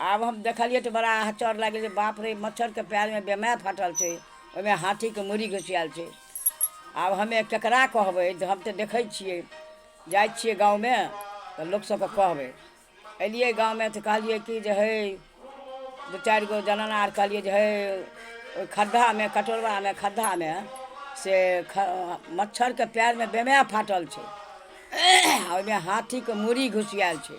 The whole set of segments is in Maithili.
आब हम देखलियै तऽ बड़ा आश्चर्य लागल जे बाप रे मच्छरके पैरमे बेमाय फाटल छै ओहिमे हाथीके मुड़ी घुसियाल छै आब हमे केकरा कहबै जे हम तऽ देखै छियै जाइ छियै गाँवमे तऽ लोक सबके कहबै एलियै गाँवमे तऽ कहलियै कि जे हे दू चारि गो जनाना आर कहलियै जे हे ओहि खद्धामे कटोरबामे खद्धामे से ख मच्छरके पैरमे बेमाय फाटल छै आ ओहिमे हाथीके मुड़ी घुसियाल छै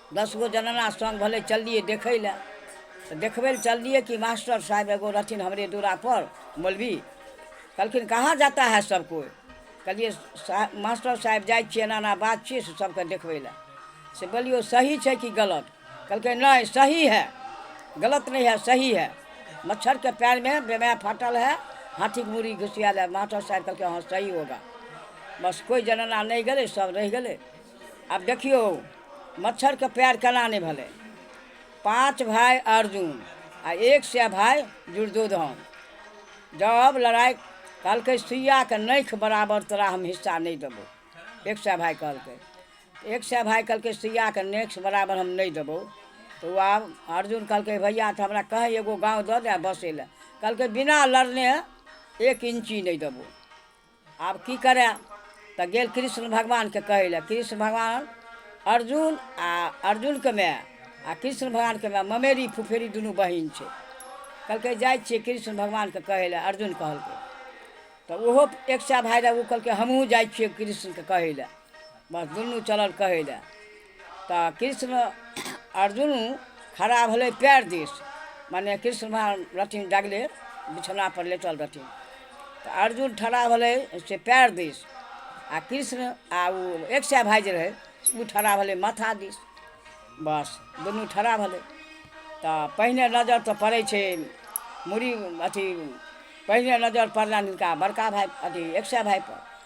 दस गो जनाना संग भले चललिए देखै लए तऽ देखबै लए चललिए कि मास्टर साहब एगो रहथिन हमरे दूरा पर मौलवी कहलखिन कहाँ जाता है सब कोइ कहलिए मास्टर साहब जाइ छियै एना एना बात छियै से सबके देखबै लए से बोलियो सही छै कि गलत कहलकै नहि सही है गलत नहि है सही है मच्छरके पैरमे बेमाय फाटल है हाथीके मुड़ी घुसिया लए मास्टर साहब कहलकै हँ सही होगा बस कोइ जनाना नहि गेलै सब रहि गेलै आब देखियौ मच्छरके पैर केना नहि भेलै पाँच भाय अर्जुन आ एक सए भाय दुर्योधन जब लड़ाइ कहलकै सुइयाके नैख बराबर तोरा हम हिस्सा नहि देबौ एक सए भाय कहलकै एक सए भाय कहलकै सुइयाके नैख बराबर हम नहि देबौ तऽ ओ आब अर्जुन कहलकै भैया तऽ हमरा कहीं एगो गाँव दऽ दे बसै लए कहलकै बिना लड़ने एक इंची नहि देबौ आब की करय तऽ गेल कृष्ण भगवानके कहै लए कृष्ण भगवान अर्जुन आ अर्जुनके माय आ कृष्ण भगवानके माय ममेरी फुफेरी दुनू बहिन छै कहलकै जाइ छियै कृष्ण भगवानके कहै लए अर्जुन कहलकै तऽ ओहो एक सए भाय रहै ओ कहलकै हमहूँ जाइ छियै कृष्णके कहै लए बस दुनू चलल कहै लए तऽ कृष्ण अर्जुन खड़ा भेलै पैर दिस मने कृष्ण भगवान रहथिन जागले बिछौनापर लेटल रहथिन तऽ अर्जुन ठड़ा भेलै से पैर दिस आ कृष्ण आ ओ एक सए भाय जे रहै ओ ठड़ा भेलै माथा दिस बस दुनू ठड़ा भेलै तऽ पहिने नजर तऽ पड़ै छै मुड़ी अथी पहिने नजर पड़लनि हिनका बड़का भाय अथी एक सए भायपर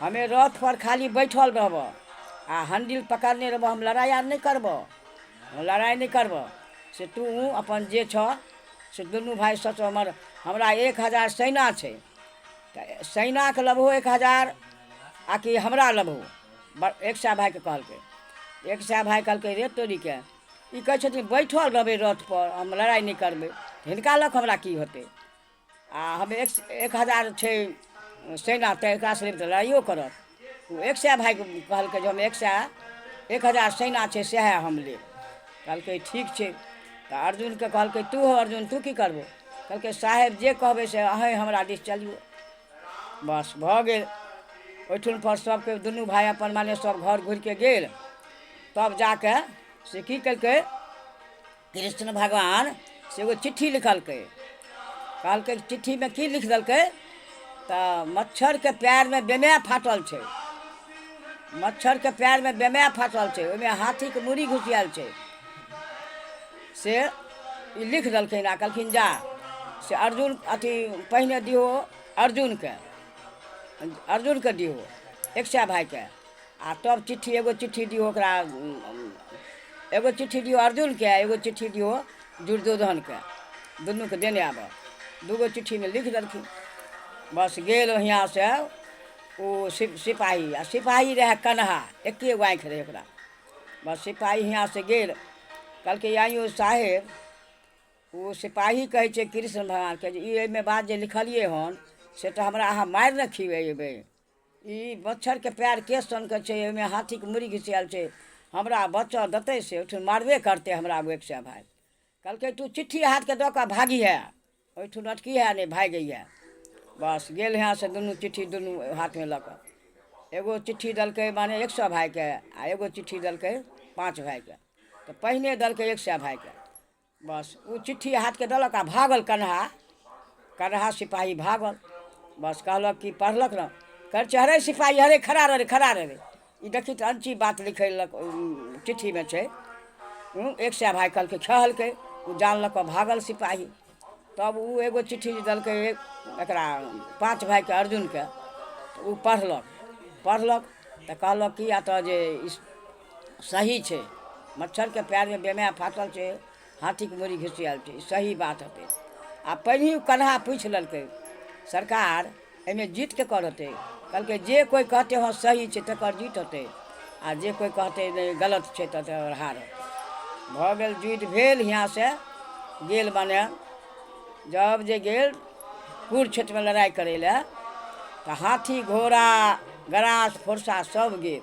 हमे रथ पर खाली बैठल रहबऽ आ हंडिल पकड़ने रहबऽ हम लड़ाइ आर नहि करबऽ हम लड़ाइ नहि करबऽ से तू अपन जे छऽ से दुनू भाइ सच हमर हमरा एक हजार सैना छै तऽ सैनाके लबहो एक हजार आ कि हमरा लबहो ब- एक सए भाइके कहलकै एक सए भाइ कहलकै रे तोरीके ई कहै छथिन बैठल रहबै रथ पर हम लड़ाइ नहि करबै हिनका लग हमरा की होतै आ हम एक एक हजार छै सेना तऽ एकरासँ लेब तऽ लड़ाइयो करत ओ एक सए भायके कहलकै जे हम एक सए एक हजार सेना छै सएह हम लेब कहलकै ठीक छै तऽ अर्जुनके कहलकै तू हो अर्जुन तू की करबो कहलकै साहेब जे कहबै से अहेँ हमरा दिस चलियौ बस भऽ गेल ओहिठुन पर सभके दुनू भाय अपन माने सभ घर घुरिके गेल तब जाके से की केलकै कृष्ण भगवान से एगो चिट्ठी लिखलकै कहलकै चिट्ठीमे की लिख देलकै तऽ मच्छरके पएरमे बेमाय फाटल छै मच्छरके पएरमे बेमाय फाटल छै ओहिमे हाथीके मूड़ी घुसियाल छै से ई लिख देलखिन आ कहलखिन जा से अर्जुन अथी पहिने दिहो अर्जुनके अर्जुनके दिहो एक सए भाइके आ तब चिट्ठी एगो चिट्ठी दिहो ओकरा एगो चिट्ठी दिहो अर्जुनके एगो चिट्ठी दिहो दुर्योधनके दुनूके देने आबऽ दूगो चिट्ठीमे लिख देलखिन बस गेल हियाँ से ओ सिपाही आ सिपाही रहै कन्हा एके गो आँखि रहै ओकरा बस सिपाही हियाँ से गेल कहलकै आइयो साहेब ओ सिपाही कहै छै कृष्ण भगवानके जे ई एहिमे बात जे लिखलियै हन से तऽ हमरा अहाँ मारि ने खियेबै ई बच्छर के पैर के सन के छै ओहिमे हाथी के मुड़ी घिसियाल छै हमरा बच्चा देतै से ओहिठुन मारबे करतै हमरा एक सए भाय कहलकै तू चिट्ठी हाथके दऽ कऽ भागी है ओहिठुन अटकी है नहि भागि है बस गेल है से दुनू चिट्ठी दुनू हाथमे लऽ कऽ एगो चिट्ठी देलकै माने एक सए भायके आ एगो चिट्ठी देलकै पाँच भायके तऽ पहिने देलकै एक सए भायके बस ओ चिट्ठी हाथके देलक आ भागल कन्हा कन्हा सिपाही भागल बस कहलक कि पढ़लक ने कर चढ़ै सिपाही हरे खड़ा रहै खड़ा रहै ई देखी तऽ अनची बात लिखेलक चिट्ठीमे छै एक सए भाय कहलकै छहलकै ओ जान लऽ कऽ भागल सिपाही तब ओ एगो चिट्ठी जे देलकै एकरा पाँच भायके अर्जुनके ओ पढ़लक पढ़लक तऽ कहलक कि या तऽ जे सही छै मच्छरके पएरमे बेमाय फाटल छै हाथीके मुड़ी घिसियाल छै सही बात हेतै आ पहिने कन्हा पूछि लेलकै सरकार एहिमे जीत के कर होतै कहलकै जे कोइ कहते हँ सही छै तकर जीत होतै आ जे कोइ कहते नहि गलत छै तऽ तकर हार होतै भऽ गेल जीत भेल हियाँ से गेल मने जब जे गेल कुरुक्षेत्रमे लड़ाइ करै लए तऽ हाथी घोड़ा गरास फोरसा सभ गेल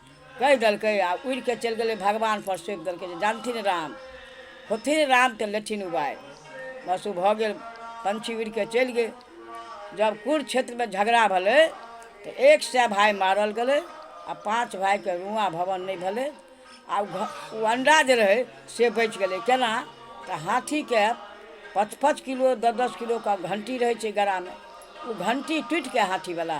कहि देलकै आ उड़ि कऽ चलि गेलै भगवान पर सोपि देलकै जे जानथिन राम होथिन राम तऽ लेथिन उबाइ बस ओ भऽ गेल पंछी उड़ि कऽ चलि गेल जब कुरुक्षेत्रमे झगड़ा भेलै तऽ एक सए भाय मारल गेलै आ पाँच भायके रुआ भवन नहि भेलै आ ओ घ- ओ अंडा जे रहै से बचि गेलै केना तऽ हाथीके पाँच पाँच किलो दस दस किलोके घंटी रहै छै गरामे ओ घंटी टूटि कऽ हाथीवला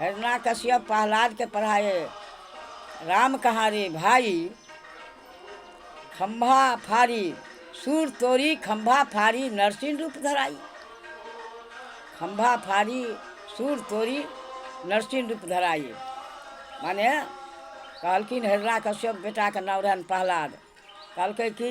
हिरना कश्यप प्रहलाद के पढ़ाए राम कहाँ रे भाई खम्भा फारी सूर तोरी खम्भा फारी नरसिंह रूप धराई खम्भा फारी सूर तोरी नरसिंह रूप धराई माने कहलखिन हिरना कश्यप बेटाके नाम रहनि प्रहलाद कहलकै कि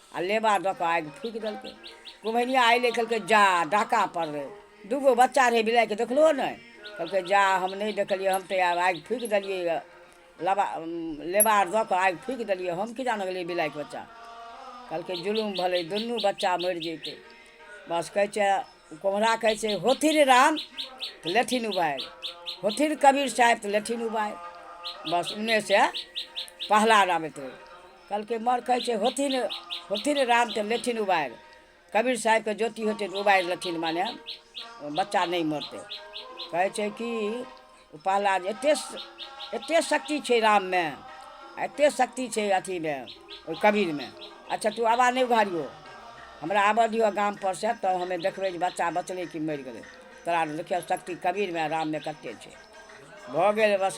आ लेबा दऽ कऽ आगि फूकि देलकै कुम्हनिया आइ ले कहलकै जा डाका पर रे दूगो बच्चा रहै बिलाइके देखलो नहि कहलकै जा हम नहि देखलियै हम तऽ आब आगि फूकि देलियै लबा लेबार दऽ कऽ आगि फूकि देलियै हम की जान गेलियै बिलाइके बच्चा कहलकै जुलूम भेलै दुनू बच्चा मरि जैतै बस कहै छै कोहरा कहै छै होथिन राम तऽ लेथिन उबाइ होथिन कबीर साहेब तऽ लेथिन उबाइ बस उन्ने से पहला राम एतै कहलकै मर कहै छै होथिन होथिन राम तऽ लेथिन उबारि कबीर साहेबके ज्योति होतै तऽ उबारि लेथिन माने बच्चा नहि मरतै कहै छै कि पहला एते एते शक्ति छै राममे एते शक्ति छै अथीमे ओहि कबीरमे अच्छा तू आबा नहि उघारियो हमरा आबऽ दिहो गाम पर से तऽ हमे देखबै जे बच्चा बचलै कि मरि गेलै तोरा देखियौ शक्ति कबीरमे राममे कते छै भऽ गेल बस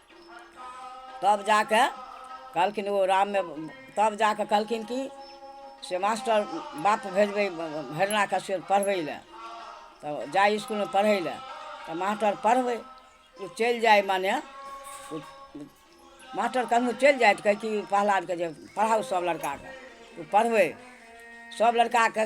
तब जा कऽ कहलखिन ओ राममे तब जा कऽ कहलखिन कि से मास्टर बाप भेजबै भेजलाके से पढ़बै लए तऽ जाइ इसकुलमे पढ़य लए तऽ मास्टर पढ़बै ओ चलि जाय माने ओ मास्टर कनहु चलि जाय तऽ कहै कि प्रह्लादकेँ जे पढ़ाउ सभ लड़काकेँ ओ पढ़बै सभ लड़काकेँ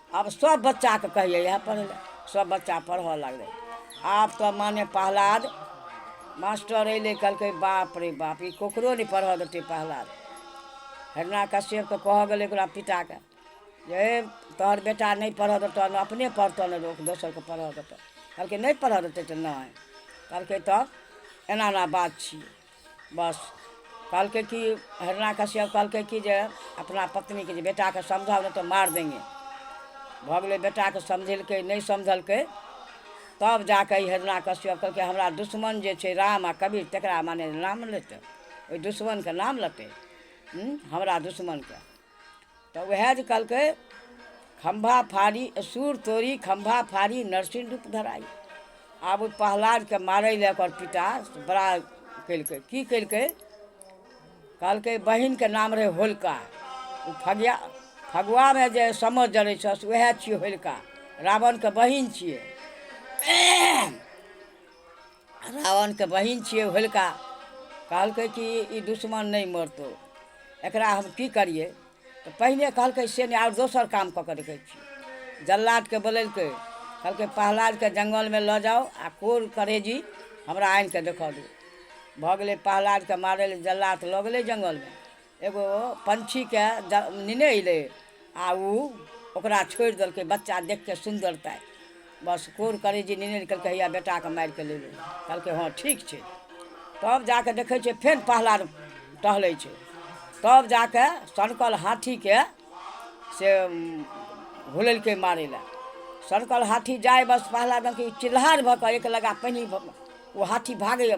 आब सब बच्चाके कहियै इएह पढ़य लए सब बच्चा पढ़ऽ लागलइ आब तऽ माने प्रह्लाद मास्टर अयलइ कहलकइ बाप रे बाप ई ककरो नहि पढ़ऽ देतइ प्रह्लाद हरना कश्यपके कहऽ गेलइ ओकरा पिताके जे हे तोहर बेटा नहि पढ़ऽ देतऽ ने अपने पढ़तऽ ने लोक दोसरके पढ़ऽ देतऽ कहलकइ नहि पढ़ऽ देतइ तऽ नहि कहलकइ तब एना एना बात छियै बस कहलकै कि हिरण्या कश्यप कहलकै कि जे अपना पत्नीके जे बेटाके समझाउ नहि तऽ मारि देंगे भऽ गेलै बेटाके समझेलकै नहि समझलकै तब जाके ई हिरण्या कश्यप कहलकै हमरा दुश्मन जे छै राम आ कबीर तकरा माने नाम लेतै ओहि दुश्मनके नाम लेतै हूँ हमरा दुश्मनके तऽ उएह जे कहलकै खम्भा फाड़ी सूर तोरी खम्भा फाड़ी नरसिंह रूप धराइ आब ओ प्रहलादके मारय लए ओकर पिता बड़ा केलकै की केलकै कहलकै बहिनके नाम रहै होलका ओ फगिया फगुआमे जे समझ जड़ै छै उएह छियै होलका रावणके बहिन छियै रावणके बहिन छियै होलिका कहलकै कि ई दुश्मन नहि मरतौ एकरा हम की करियै तऽ पहिने कहलकै से नहि आओर दोसर काम कऽ कऽ देखै छियै जल्लादके बोलेलकै कहलकै प्रहलादके जङ्गलमे लऽ जाउ आ कोर करेजी हमरा आनि कऽ देखा दू भऽ गेलै प्रहलादके मारय लेल जल्लाद लऽ गेलै जङ्गलमे एगो पंछीके ज- नेने अयलै आ ओ ओकरा छोड़ि देलकै बच्चा देख के सुंदरता बस कोर करे जे नेने कहलकै हैया बेटाके मारि के लेलै कहलकै हँ ठीक छै तब जाके देखै छै फेर पहला टहलै छै तब जाके सनकल हाथीके से उम, हुलैलकै मारै लए सनकल हाथी जाय बस पहला दम कि चिल्हार भऽ कऽ एक लगा पानि भऽ- ओ हाथी भागैए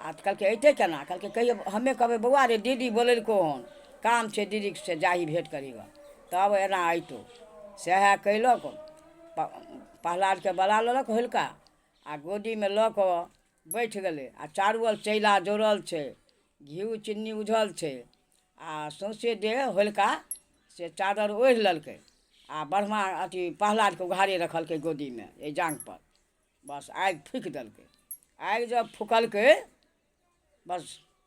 आ तऽ कहलकै अयतै केना कहलकै कहियो हमे कहबै बौआ रे दीदी बोलेलको हन काम छै दीदीके से जाही भेँट करी गऽ तब एना अयतौ सएह कयलक प्रह्लादके बोला लेलक होलिका आ गोदीमे लऽ कऽ बैठ गेलै आ चारू बगल चैला जोड़ल छै घीउ चिन्नी उझल छै आ सौँसे देह होलिका से चादर ओढ़ि लेलकै आ ब्रह्मा अथी प्रह्लादके उघारे रखलकै गोदीमे एहि जाँघपर बस आगि फूकि देलकै आगि जब फूकलकै बस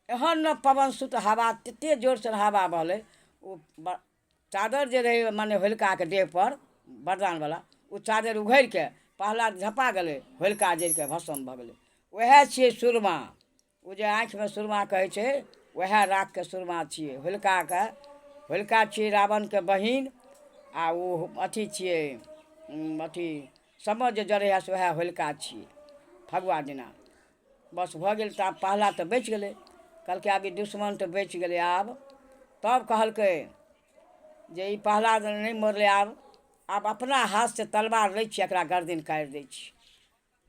एहन ने पवन सुत हवा ततेक जोरसँ हवा बहलै ओ ब चादर जे रहै मने होलिकाके देहपर वरदानवला ओ चादर उघरि कऽ प्रह्लाद झँपा गेलै होलिका जरि कऽ भस्म भऽ गेलै उएह छियै सूरमा ओ जे आँखिमे सुरमा कहै छै वएह रागके सुरमा छियै होलिकाके होलिका छियै रावणके बहिन आ ओ अथी छियै अथी सभमे जे जड़ै हइ से वएह होलिका छियै फगुआ दिना बस भऽ गेल तऽ आब पहला तऽ बचि गेलै कहलकै आब ई दुश्मन तऽ बचि गेलै आब तब कहलकै जे ई पहला जे नहि मरलै आब आब अपना हाथसँ तलवार लै छियै एकरा गर्दनि काटि दै छियै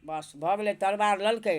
बस भऽ गेलै तलवार लेलकै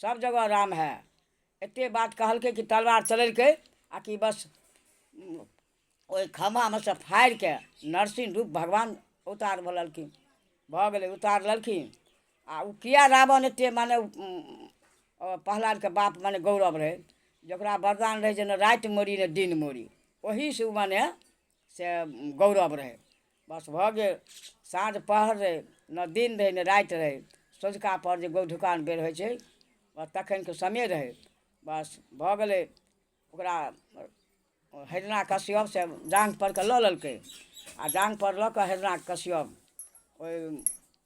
सब जगह राम है एते बात कहलकै कि तलवार चलेलकै आ कि बस ओहि खम्भामे से फाड़ि कऽ नरसिंह रूप भगवान उतार भऽ लेलखिन भऽ गेलै उतार लेलखिन आ ओ किया रावण एते मने प्रह्लादके बाप मने गौरव रहै जे ओकरा वरदान रहै जे ने राति मरी ने दिन मरी ओहिसँ ओ मने से गौरव रहै बस भऽ गेल साँझ पहर रहै ने दिन रहै ने राति रहै सँझुका पहर जे गौ ढुकान बेर होइ छै बस तखनके समय रहै बस भऽ गेलै ओकरा हरिना कश्यप से जाँघपर कऽ लऽ लेलकै आ जाँघपर लऽ कऽ हरिना कश्यप ओहि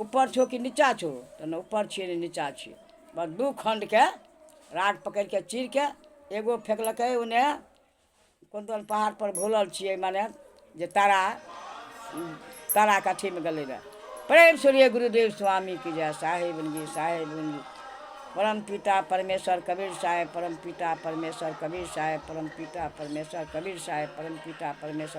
ऊपर छौ कि नीचा छौ तऽ ने ऊपर छियै ने नीचा छियै बस दू खण्डके राड पकड़ि कऽ चीर कऽ एगो फेकलकै ओने कोन दोन पहाड़ पर घुलल छियै माने जे तारा तारा के अथीमे गेलै रऽ प्रेम सूर्य गुरुदेव स्वामी की जय साहेब जी साहेब जी परम पिता परमेश्वर कबीर साहेब परम पिता परमेश्वर कबीर साहेब परम पिता परमेश्वर कबीर साहेब परम पिता परमेश्वर